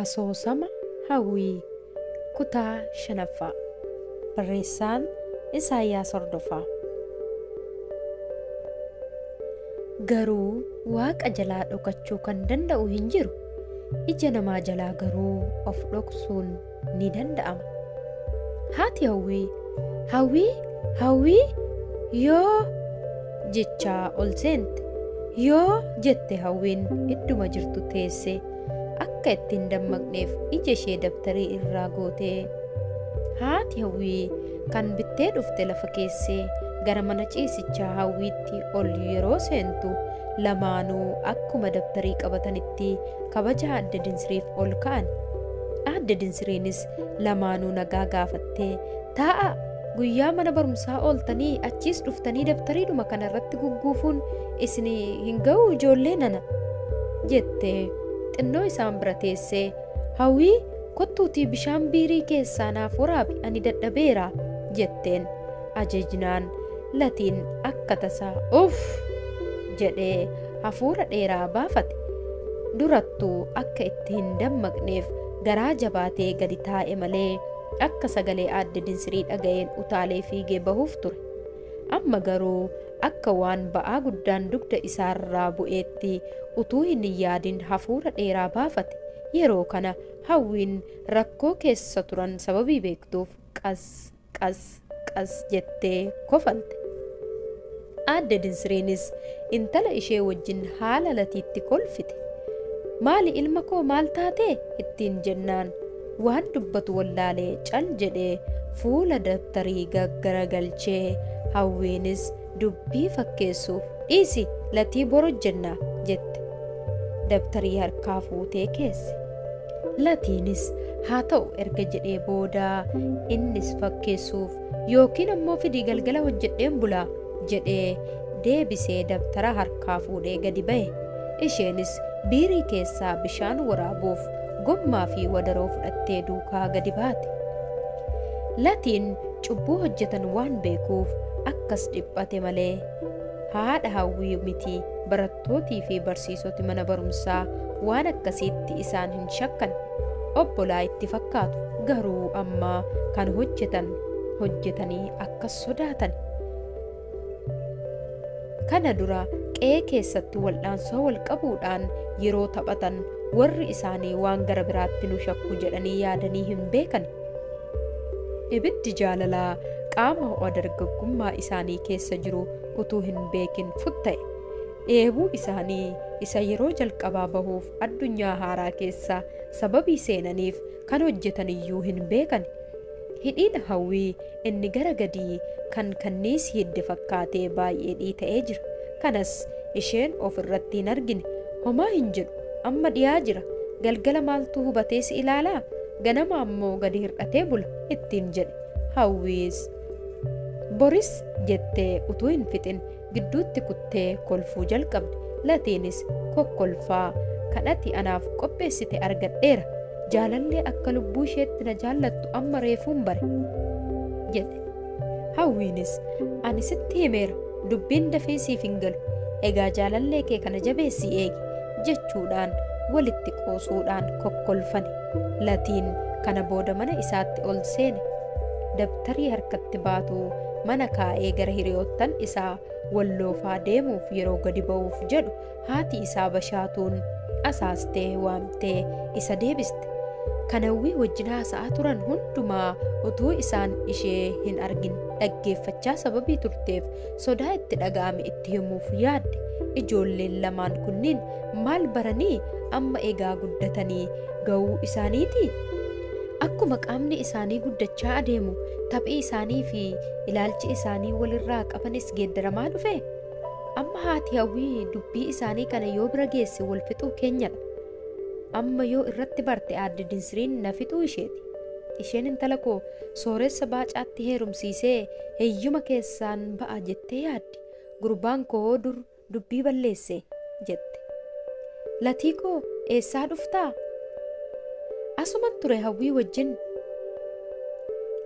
Asoosama Hawwii Kutaa 5ffaa Barreessaan Isaayyaas Hordofaa Garuu Waaqa jalaa dhokachuu kan danda'u hin jiru, ija namaa jalaa garuu of dhoksuun ni danda'ama. Haati Hawwii Hawwii Hawwii yoo jechaa ol seente. Yoo jette Hawwiin idduma jirtu teesse akka itti hin dammaqneef ija ishee dabtarii irraa gootee haati Hawwii kan bittee dhufte lafa keessee gara mana ciisichaa Hawwiitti ol yeroo seentu lamaanuu akkuma dabtarii qabatanitti kabaja aadde Dinsiriif ol ka'an. Aadde Dinsiriinis lamaanuu nagaa gaafattee taa'a guyyaa mana barumsaa ooltanii achiis dhuftanii dabtariidhuma kana irratti gugguufuun isin hin ga'u ijoollee nana jettee xinnoo isaan bira teessee hawwii kottuutii bishaan biirii keessaa naaf waraabi ani dadhabeera jetteen ajajnaan latiin akka tasaa uff jedhee hafuura dheeraa baafate. Durattuu akka itti hin dammaqneef garaa jabaatee gadi taa'e malee akka sagalee Aadde Dinsirii dhaga'een utaalee fiigee bahuuf ture. Amma garuu akka waan ba'aa guddaan dugda isaarraa bu'eetti utuu hin yaadin hafuura dheeraa baafate. Yeroo kana Hawwiin rakkoo keessa turan sababii beektuuf qas. Qas, qas jettee kofalte. Aadde Dinsiriinis intala ishee wajjin haala latiitti kolfite. Maali ilma koo maal taate? ittiin jennaan waan dubbatu wallaalee cal jedhee fuula dabtarii gaggaragalchee Hawwiinis Dubbii fakkeessuuf dhiisi latii bor hojjennaa jette. Dabtarii harkaa fuutee keesse. Latiinis haa ta'u erga jedhee booda innis fakkeessuuf yookiin ammoo fidii galgala hojjedheen bulaa jedhee deebisee dabtara harkaa fuudhee gadi ba'e. Isheenis biirii keessaa bishaan waraabuuf gommaa fi wadaroo fudhattee duukaa gadi baate. Latiin cubbuu hojjetan waan beekuuf akkas dhiphate malee haadha hawwii miti barattootii fi barsiisoti mana barumsaa waan akkasiitti isaan hin shakkan obbolaa itti fakkaatu garuu amma kan hojjetan hojjetanii akkas sodaatan Kana dura qe'ee keessatti waldhaansoo walqabuudhaan yeroo taphatan warri isaanii waan gara biraatti nu shakku jedhanii yaadanii hin beekan. Ibiddi jaalalaa qaama ho'a dargaggummaa isaanii keessa jiru utuu hin beekin futta'e. Dheebuu isaanii isa yeroo jalqabaa bahuuf addunyaa haaraa keessa sababii seenaniif kan hojjetan iyyuu hin beekan. Hidhiin hawwii Inni gara gadii kan kanniis hidde fakkaatee baay'ee dhiita'ee jira. Kanas isheen of irratti hin argine. Homaa hin jedhu, amma dhiyaa jira. Galgala maaltu hubatee si ilaalaa? Ganama ammoo gadi hir'atee bula, ittiin jedhe. Hawwiis. Boris jettee utuu hin fixin gidduutti kuttee kolfuu jalqabde. Latiinis kokkolfaa, Kan ati anaaf qopheessite argadheera. Jaalallee akka lubbuu isheetti na jaallattu amma reefuun bare. jette. Hawwiinis, Ani sitti himeera. Dubbiin dafee siif hin galu. Egaa jaalallee kee kana jabeessii eegi. jechuudhaan walitti qoosuudhaan kokkolfani. Latiin kana booda mana isaatti ol seene. Dabtarii harkatti baatu mana kaa'ee gara hiriyoottan isaa walloofaa deemuuf yeroo gadi ba'uuf jedhu haati isaa bashaatuun asaastee waamtee isa deebiste. Kan hawwii wajjin haasa'aa turan hundumaa utuu isaan ishee hin argin dhaggeeffachaa sababii turteef sodaa itti dhaga'ame itti himuuf yaadde. Ijoolleen lamaan kunniin Maal baranii? Amma egaa guddatanii ga'uu isaaniitii? Akkuma qaamni isaanii guddachaa adeemu taphi isaanii fi ilaalchi isaanii walirraa qabanis geeddaramaa dhufe? Amma haati hawwii dubbii isaanii kana yoo bira geesse wal fixuu keenyadha. Amma yoo irratti barte aadde dinsiriin na fixuu isheeti. Isheen intala koo sooressa baacaatti heerumsiisee heyyuma keessaan ba'a jettee yaaddi. Gurbaan koo dur dubbii balleesse jette. Latii koo eessaa dhuftaa? Asuma ture hawwii wajjin.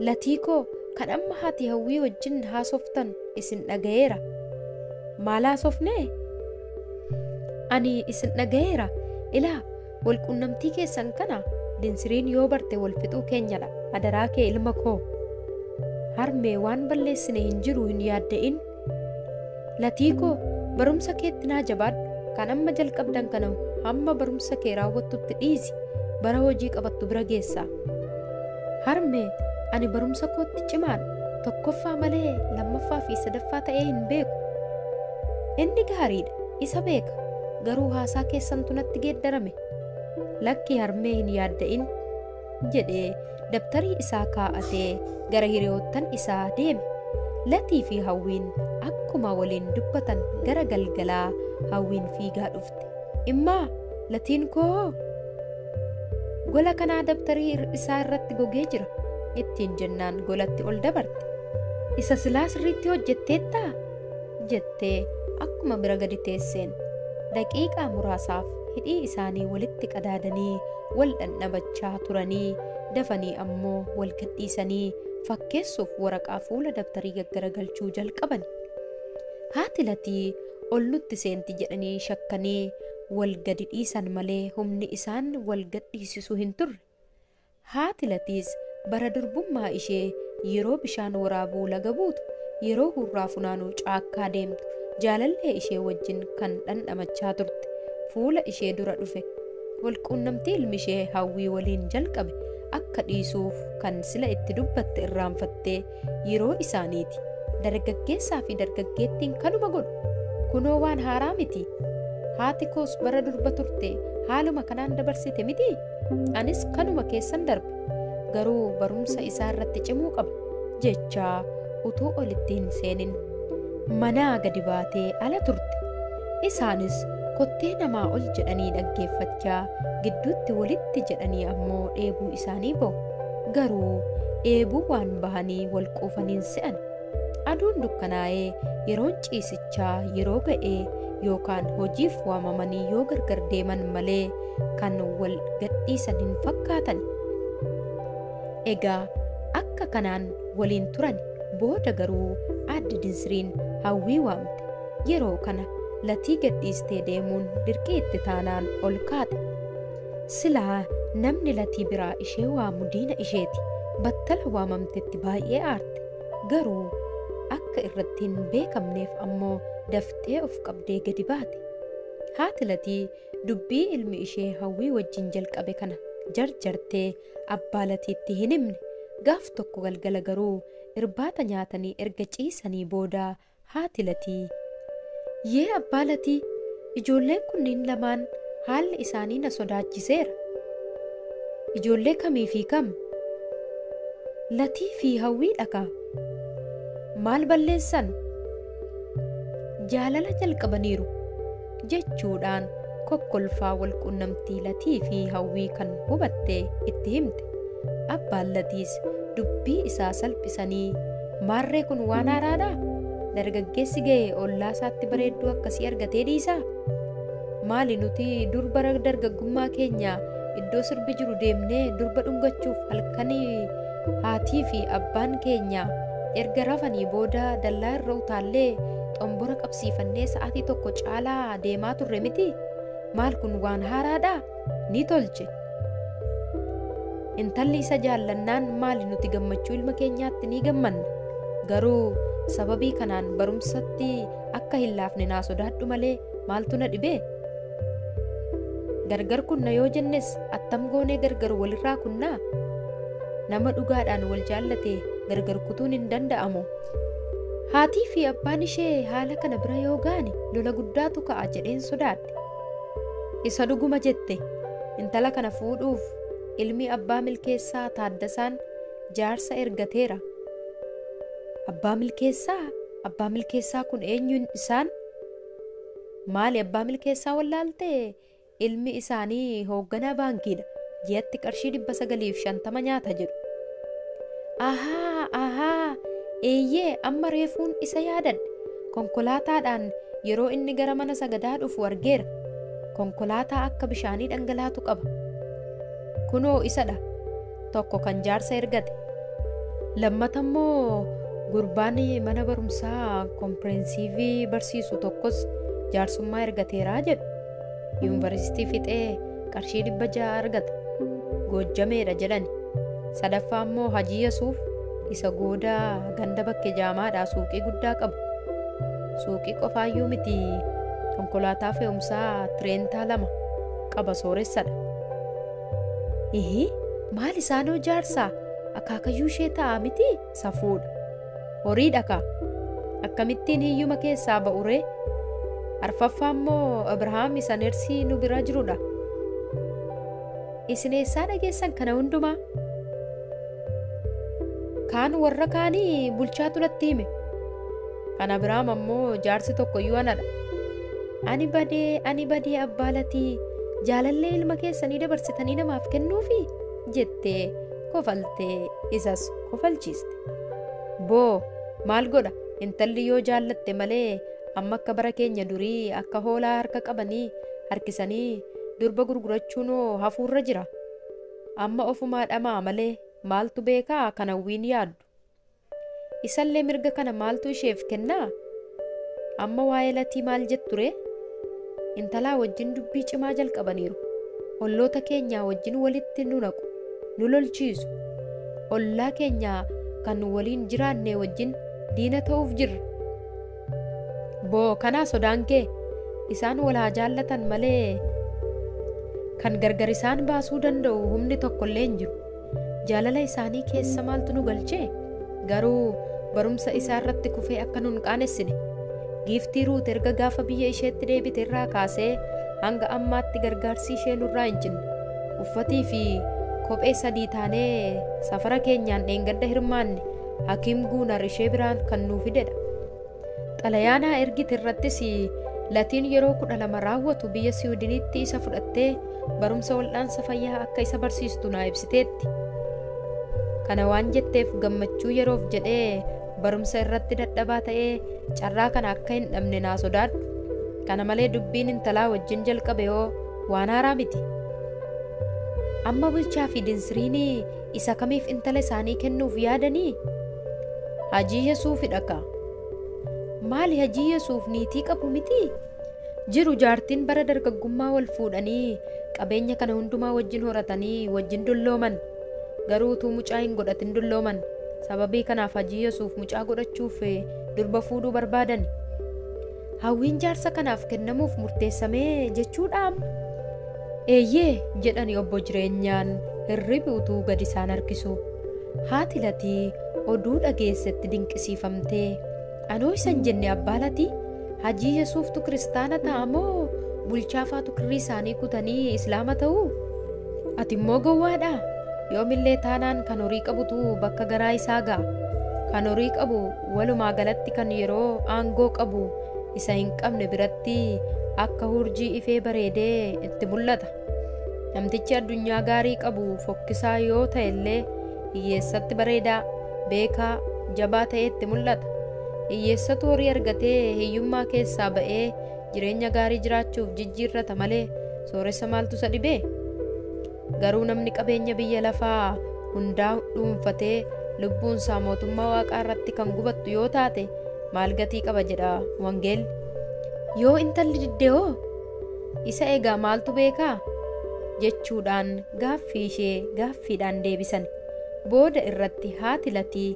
Latii koo kan amma haati hawwii wajjin haasoftan isin dhagayeera. Maal haasofnee? Ani isin dhagayeera. Ilaa walquunnamtii keessan kana dinsiriin yoo barte wal fixuu keenyadha. Adaraa kee ilma koo. Harmee waan balleessine hin jiru hin yaadda'in. Latii koo barumsa keetti naa jabaadhu kan amma jalqabdan kana hamma barumsa kee raawwattutti dhiisi bara hojii qabattu bira geessaa. Harmee ani barumsa kootti cimaadha tokkoffaa malee lammaffaa fi sadaffaa ta'ee hin beeku. Inni gaariidha isa beeka garuu haasaa keessantu natti geeddarame. Lakkii harmee hin yaadda'in jedhee dabtarii isaa kaa'atee gara hiriyoottan isaa deeme. Latii fi Hawwiin akkuma waliin dubbatan gara galgalaa Hawwiin fiigaa dhufte. Immaa latiin koo gola kanaa dabtarii isaa irratti gogee jira ittiin jennaan golatti ol dabarte. Isa silaa sirriitti hojjetteettaa? jettee akkuma bira gadi teesseen daqiiqaa muraasaaf hidhii isaanii walitti qadaadanii wal dhandhamachaa turanii dafanii ammoo wal gadhiisanii fakkeessuuf waraqaa fuula dabtarii gaggaragalchuu jalqaban haati latii ol nutti seenti jedhanii shakkanii wal gadi dhiisan malee humni isaan wal gadhiisisuu hin turre Haati Latiis bara durbummaa ishee yeroo bishaan waraabuu laga buutu, yeroo hurraa funaanuu caakkaa deemtu jaalallee ishee wajjin kan dhandhamachaa turte fuula ishee dura dhufe. Wal quunnamtii ilmi ishee Hawwii waliin jalqabe akka dhiisuuf kan sila itti dubbatte irraanfattee Yeroo isaaniiti. Dargaggeessaa fi dargaggeettiin kanuma godhu. Kunoo waan haaraa miti. Haati koos bara durba turte haaluma kanaan dabarsite miti? Anis kanuma keessan darbe. Garuu barumsa isaa irratti cimuu qaba. jechaa utuu olitti hin seenin manaa gadi baatee ala turte. Isaanis kottee namaa ol jedhanii dhaggeeffachaa gidduutti walitti jedhanii ammoo dheebuu isaanii ba'u. Garuu dheebuu waan bahanii wal quufaniin se'an. Aduun dukkanaa'ee yeroon ciisichaa yeroo ga'ee yookaan hojiif waamamanii yoo gargar deeman malee kan wal gadhiisan hin fakkaatan. Egaa akka kanaan waliin turan booda garuu aadde Dinsiriin hawwii waamte. Yeroo kana latii gadhiistee deemuun dirqii itti taanaan ol kaate. Silaa namni Latii biraa ishee waamu diina isheeti. Battala waamamtetti baay'ee aarte. Garuu akka irratti hin beekamneef ammoo daftee of qabdee gadi baate. Haati Latii dubbii ilmi ishee Hawwii wajjin jalqabe kana jarjartee abbaa Latiitti hin himne. Gaaf tokko galgala garuu irbaata nyaatanii erga ciisanii booda Haati Latii. Yee abbaa Latii, ijoolleen kunniin lamaan haalli isaanii na sodaachiseera. Ijoollee kamii fi kam? Latii fi Hawwiidha kaa! Maal balleessan? Jaalala jalqabaniiru. jechuudhaan kokkolfaa walqunnamtii Latii fi Hawwii kan hubatte itti himte. Abbaan Latiis dubbii isaa salphisanii maarree kun waan haaraadha? Dargaggeessi ga'e ollaa isaatti bareedduu akkasii argatee dhiisaa? Maali nuti dur bara dargaggummaa keenya iddoo sirbi jiru deemnee durba dhungachuuf halkanii haatii fi abbaan keenya erga rafanii booda dallaa irra utaallee xombora qabsiifnee Siifannee sa'aatii tokko caalaa deemaa turre miti? Maal kun waan haaraadhaa? Ni tolche. Intalli isa jaallannaan maali nuti gammachuu ilma keenyaatti ni gammanna. Garuu sababii kanaan barumsatti akka hin laafne naa sodaadhu malee maaltu na dhibee? Gargar kunna yoo jennes attam goonee gargar walirraa kunnaa? Nama dhugaadhaan wal jaallate gargar kutuun hin danda'amu. Haatii fi abbaan ishee haala kana bira yoo ga'ani lola guddaatu ka'a jedheen sodaadhe. Isa dhuguma jette intala kana fuudhuuf ilmi abbaa milkeessaa Taaddasaan jaarsa ergateera. Abbaa milkeessaa abbaa milkeessaa kun eenyuun isaan? Maali abbaa milkeessaa wallaaltee Ilmi isaanii hoogganaa baankiidha. Ji'atti qarshii 950 nyaata jedhu. Ahaa! Ahaa! Eeyyee, amma reefuun isa yaadadhe. Konkolaataadhaan yeroo inni gara mana sagadaa dhufu argeera. Konkolaataa akka bishaanii dhangalaatu qaba. Kunoo isadha. Tokko kan jaarsa ergate. Lammata immoo gurbaan mana barumsaa kompireensivii barsiisu tokkos jaarsummaa ergateera jedhu. Yuunivarsiitii fixee qarshii dhibba ja'a argata. Goojjameedha jedhani. Sadaffaa immoo Hajii Yasuuf isa goodaa ganda bakke jaamaadhaa suuqii guddaa qabu. Suuqii qofaayyuu miti konkolaataa fe'umsaa tireentaa lama qaba sooressadha. Ihii maal isaanoo jaarsaa akaakayyuu ishee ta'a miti? Safuudha. Horiidha kaa. Akkamittiin hiyyuma keessaa ba'uree? Arfaffaa immoo Abrahaam isa nersii nu bira jirudha. Isin eessaa dhageessan kana hundumaa? Kaan warra kaanii bulchaatu natti hime. Kan Abrahaam ammoo jaarsi tokko iyyuu anadha. Ani badee ani badee abbaa latii jaalallee ilma keessanii dabarsitanii namaaf kennuufi jettee kofaltee isas kofalchiiste. Boo! Maal godha intalli yoo jaallatte malee amma akka bara keenya durii akka hoolaa harka qabanii harkisanii durba gurgurachuunoo hafuurra jira. Amma ofumaa dhama'a malee maaltu beekaa kan hawwiin yaaddu. Isallee mirga kana maaltu isheef kennaa? Amma waa'ee Latii maal jettu ree? Intalaa wajjin dubbii cimaa jalqabaniiru. Olloota keenyaa wajjin walitti nu naqu, nu lolchiisu. Ollaa keenyaa kan waliin jiraannee wajjin diina ta'uuf jirra. Boo kanaa sodaan kee? Isaan wal haa jaallatan malee kan gargar isaan baasuu danda'u humni tokkollee hin jiru. Jaalala isaanii keessa maaltu nu galche? Garuu barumsa isaa irratti kufee akka nu hin qaanessine. Giiftii Ruut erga gaafa biyya isheetti deebite irraa kaasee hanga ammaatti gargaarsii ishee nurraa hin cinne. Uffatii fi kophee sadii taanee safara keenyaan dheengadda hirmaanne Hakiim Guunar ishee biraan kan nuu fidedha. Xalayaa naa ergite irrattis Latiin yeroo 12 raawwatu biyya Siwidiniitti isa fudhattee barumsa waldhaansa fayyaa akka isa barsiistu naa ibsiteetti. Kana waan jetteef gammachuu yeroof jedhee barumsa irratti dadhabaa ta'ee carraa kana akka hin dhabne naa sodaadhu. Kana malee dubbiin intalaa wajjin jalqabe hoo waan haaraa miti. Amma bulchaa fi dinsiriinii Isa kamiif intala isaanii kennuuf yaadanii? Hajii Yesuufidha ka. Maali hajii Yesuuf niitii qabu mitii? Jiru jaartiin bara dargaggummaa wal fuudhanii qabeenya kana hundumaa wajjin horatanii wajjin dullooman. Garuu utuu mucaa hin godhatin dullooman. Sababii kanaaf hajii Yesuuf mucaa godhachuuf durba fuudhuu barbaadan. Hawwiin jaarsa kanaaf kennamuuf murteessame jechuudha amma? Eeyyee, jedhani Obbo Jireenyaan hirribi utuu gad isaan harkisuu. Haati Latii oduu dhageessetti dinqisiifamtee, Anoo isa hin jenne abbaa Latii? Hajii Yesuuftu kiristaana ta'a moo bulchaafaatu kirrii isaanii kutanii Islaama ta'u? Ati immoo gowwaadha? Yoomillee taanaan kan horii qabutu bakka garaa isaa ga'a. Kan horii qabu Walumaa galatti kan yeroo aangoo qabu isa hin qabne biratti akka hurjii ifee bareedee itti mul'ata. Namtichi addunyaa gaarii qabu fokkisaa yoo ta'e illee hiyyeessatti bareedaa, beekaa, jabaa ta'ee itti mul'ata. Hiyyeessatu horii argatee hiyyummaa keessaa ba'ee jireenya gaarii jiraachuuf jijjiirrata malee sooressa maaltu isa dhibee? Garuu namni qabeenya biyya lafaa hundaa dhuunfatee lubbuunsaa mootummaa waaqaa irratti kan gubattu yoo taate maal gatii qaba jedha wangeelli. Yoo intalli didde hoo? Isa egaa maaltu beekaa? jechuudhaan gaaffii ishee gaaffiidhaan deebisan. Booda irratti haati latii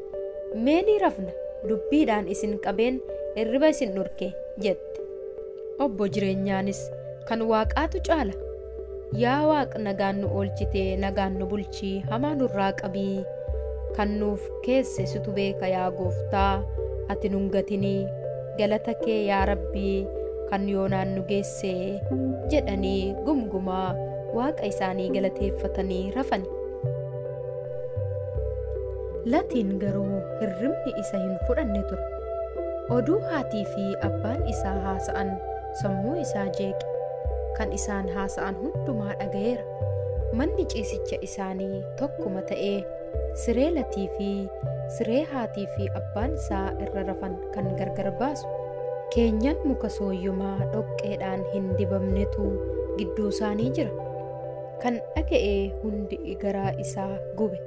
mee ni rafna dubbiidhaan isin qabeen irriba isin dhorke jette. Obbo jireenyaanis kan waaqaatu caala. Yaa Waaq nagaan nu oolchite nagaan nu bulchi hamaa nurraa qabi kan nuuf keesse situ beeka yaa gooftaa ati nun gatini galata kee yaa rabbi kan yoonaan nu geesse jedhanii gumgumaa waaqa isaanii galateeffatanii rafani. Latiin garuu hirribni isa hin fudhanne ture. Oduu haatii fi abbaan isaa haasa'an sammuu isaa jeeqe. Kan isaan haasa'an hundumaa dhaga'eera. Manni ciisicha isaanii tokkuma ta'e. Siree latii fi siree haatii fi abbaan isaa irra rafan kan gargar baasu. Keenyan muka sooyyomaa dhoqqeedhaan hin dibamnetu gidduu isaanii jira. Kan dhaga'e hundi garaa isaa gube.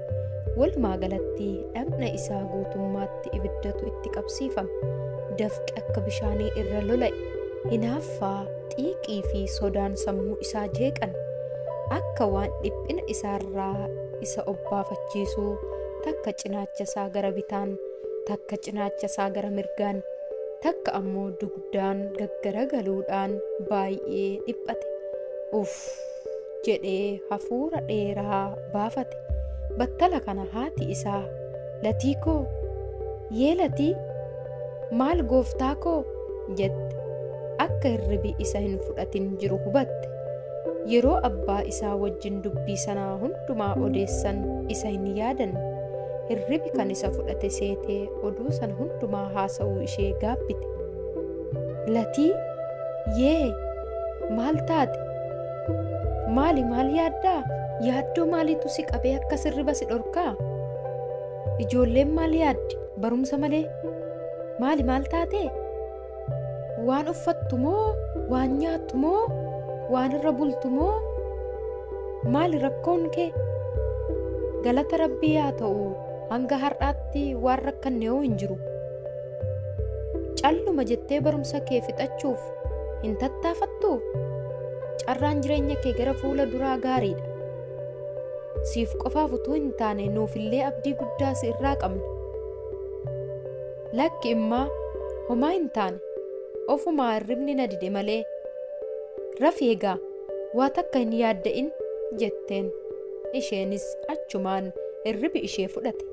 Walumaa galatti dhagna isaa guutummaatti. irratti ibiddatu itti qabsiifame. Dafqi akka bishaanii irra lola'e. Hinaaffaa, xiiqii fi sodaan sammuu isaa jeeqan. Akka waan dhiphina isaarraa isa obbaafachiisuu takka cinaacha isaa gara bitaan, takka cinaacha isaa gara mirgaan, takka ammoo dugdaan gaggaragaluudhaan baay'ee dhiphate. Uff! jedhee hafuura dheeraa baafate. Battala kana haati isaa Latii koo! Yee Latii! Maal gooftaa koo? jette. Akka hirribi isa hin fudhatin jiru hubatte. Yeroo abbaa isaa wajjin dubbii sanaa hundumaa odeessan isa hin yaadanne. Hirribi kan isa fudhate seetee oduu sana hundumaa haasa'uu ishee gaabbite. Latii! Yee! Maal taate? Maali maal yaaddaa? Yaaddoo maaliitu si qabee akka sirriba si dhorkaa? Ijoolleen maal yaaddi? Barumsa malee. Maali maal taate? Waan uffattu moo? Waan nyaattu moo? Waan irra bultu moo? Maali rakkoon kee? Galata rabbii yaa ta'u hanga har'aatti waan rakkanne yoo hin jiru. Calluma jettee barumsa kee fixachuuf Hin tattaafattuu? Carraan jireenya kee gara fuula duraa gaariidha. Siif qofaaf utuu hin taane nuufillee abdii guddaa si irraa qabna. Lakki immaa homaa hin taane ofumaa hirribni na dide malee rafi egaa waa takka hin yaadda'in jetteen isheenis achumaan hirribi ishee fudhate.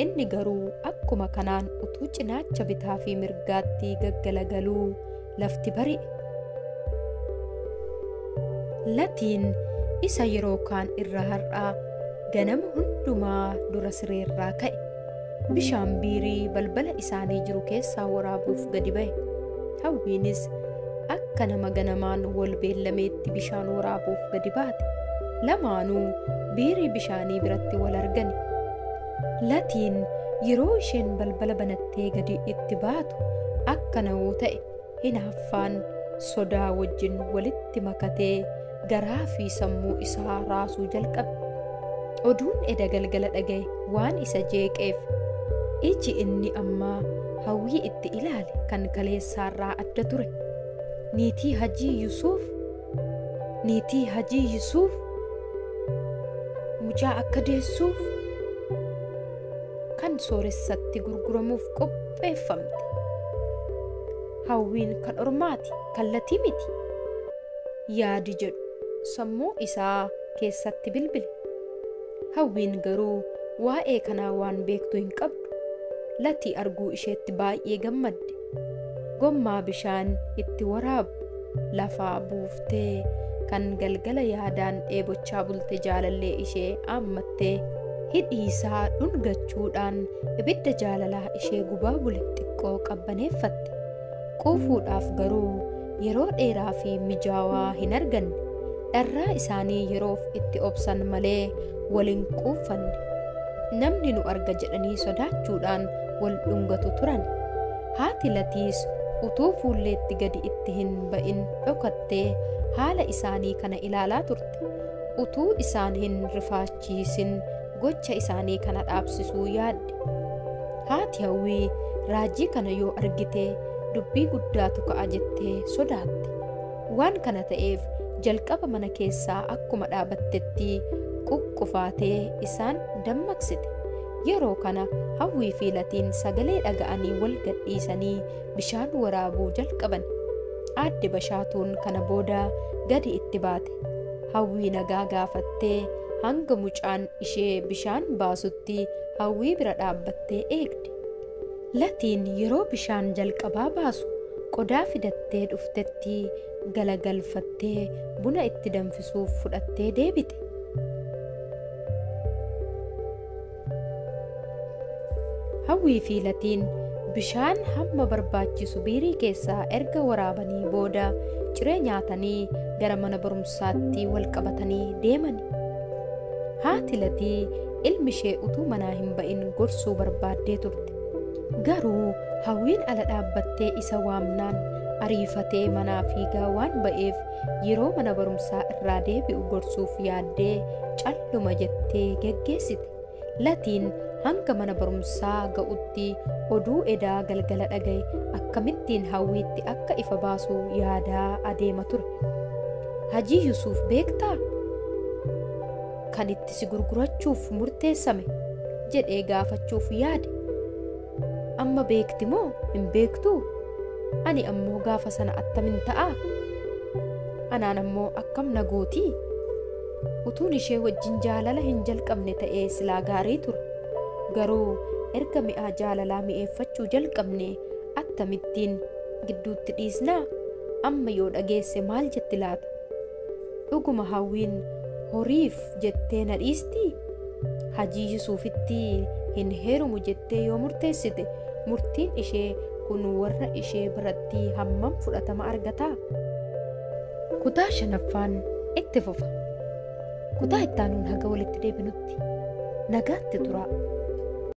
Inni garuu akkuma kanaan utuu cinaacha bitaa fi mirgaatti gaggalagaluu lafti bari'e. Latiin isa yeroo kaan irra har'aa ganama hundumaa dura sireerraa ka'e. Bishaan biirii balbala isaanii jiru keessaa waraabuuf gadi ba'e. Hawwiinis akka nama ganamaan wal beellameetti bishaan waraabuuf gadi baate. Lamaanuu biirii bishaanii biratti wal argani. Latiin yeroo isheen balbala banattee gadi itti baatu akka na'uu ta'e hinaaffaan sodaa wajjin walitti makatee garaa fi sammuu isaa raasuu jalqabe. Oduun eda galgala dhagaye waan isa jeeqeef iji inni ammaa hawwii itti ilaale kan kaleessaarraa adda ture. Niitii Hajii Yusuuf niitii Hajii Yusuuf mucaa akka deessuuf kan sooressatti gurguramuuf qopheeffamte. Hawwiin kan ormaati kallatii miti. yaadi jedhu sammuu isaa keessatti bilbile. Hawwiin garuu waa'ee kanaa waan beektu hin qabdu. Latii arguu isheetti baay'ee gammadde. Gommaa bishaan itti waraabu lafaa buuftee kan galgala yaadaan dheebochaa bulte jaalallee ishee aammattee hidhii isaa dhungachuudhaan ibidda jaalalaa ishee gubaa bule xiqqoo qabbaneeffatte. Quufuudhaaf garuu yeroo dheeraa fi mijaawaa hin arganne. Dharraa isaanii yeroof itti obsan malee wal hin quuffanne. Namni nu arga jedhanii sodaachuudhaan wal dhungatu turan. Haati Latiis utuu fuulleetti gadi itti hin ba'in dhokattee haala isaanii kana ilaalaa turte. Utuu isaan hin rifaachin. gammachiisin gocha isaanii kana dhaabsisuu yaadde. Haati hawwii raajii kana yoo argite dubbii guddaatu ka'a jettee sodaatte. Waan kana ta'eef jalqaba mana keessaa akkuma dhaabattetti quqqufaatee isaan dammaqsite. Yeroo kana hawwii fi latiin sagalee dhaga'anii wal gadhiisanii bishaan waraabuu jalqaban. Aadde Bashaatuun kana booda gadi itti baate. Hawwii nagaa gaafattee hanga mucaan ishee bishaan baasutti Hawwii bira dhaabbattee eegde. Latiin yeroo bishaan jalqabaa baasu qodaa fidattee dhuftetti galagalfattee buna itti danfisuuf fudhattee deebite. Hawwii fi Latiin bishaan hamma barbaachisu biirii keessaa erga waraabanii booda ciree nyaatanii gara mana barumsaatti wal qabatanii deemani. Haati Latii ilmi ishee utuu manaa hin ba'in gorsuu barbaaddee turte. Garuu Hawwiin ala dhaabbattee isa waamnaan ariifatee manaa fiigaa waan ba'eef Yeroo mana barumsaa irraa deebi'u gorsuuf yaaddee calluma jettee geggeessite. Latiin hanga mana barumsaa ga'utti oduu edaa galgala dhaga'e akkamittiin hawwiitti akka ifa baasu yaadaa adeema ture. Hajii Yusuuf beektaa? Kan itti si gurgurachuuf murteessame jedhee gaafachuuf yaade. Amma beekti moo hin beektuu? Ani ammoo gaafa sana attamin ta'aa? Anaan ammoo akkam na gootii? Utuun ishee wajjin jaalala hin jalqabne ta'ee silaa gaarii ture. Garuu erga mi'aa jaalalaa mi'eeffachuu jalqabne attamittiin gidduutti dhiisnaa? Amma yoo dhageesse maal jetti laata? Dhuguma Hawwiin horiif jettee na dhiistii? Hajii Yusuufitti hin heerumu jettee yoo murteessite murtiin ishee kun warra ishee biratti hammam fudhatama argataa? Kutaa shanaffaan itti fufa. Kutaa ittaanuun haga walitti deebinutti nagaatti turaa.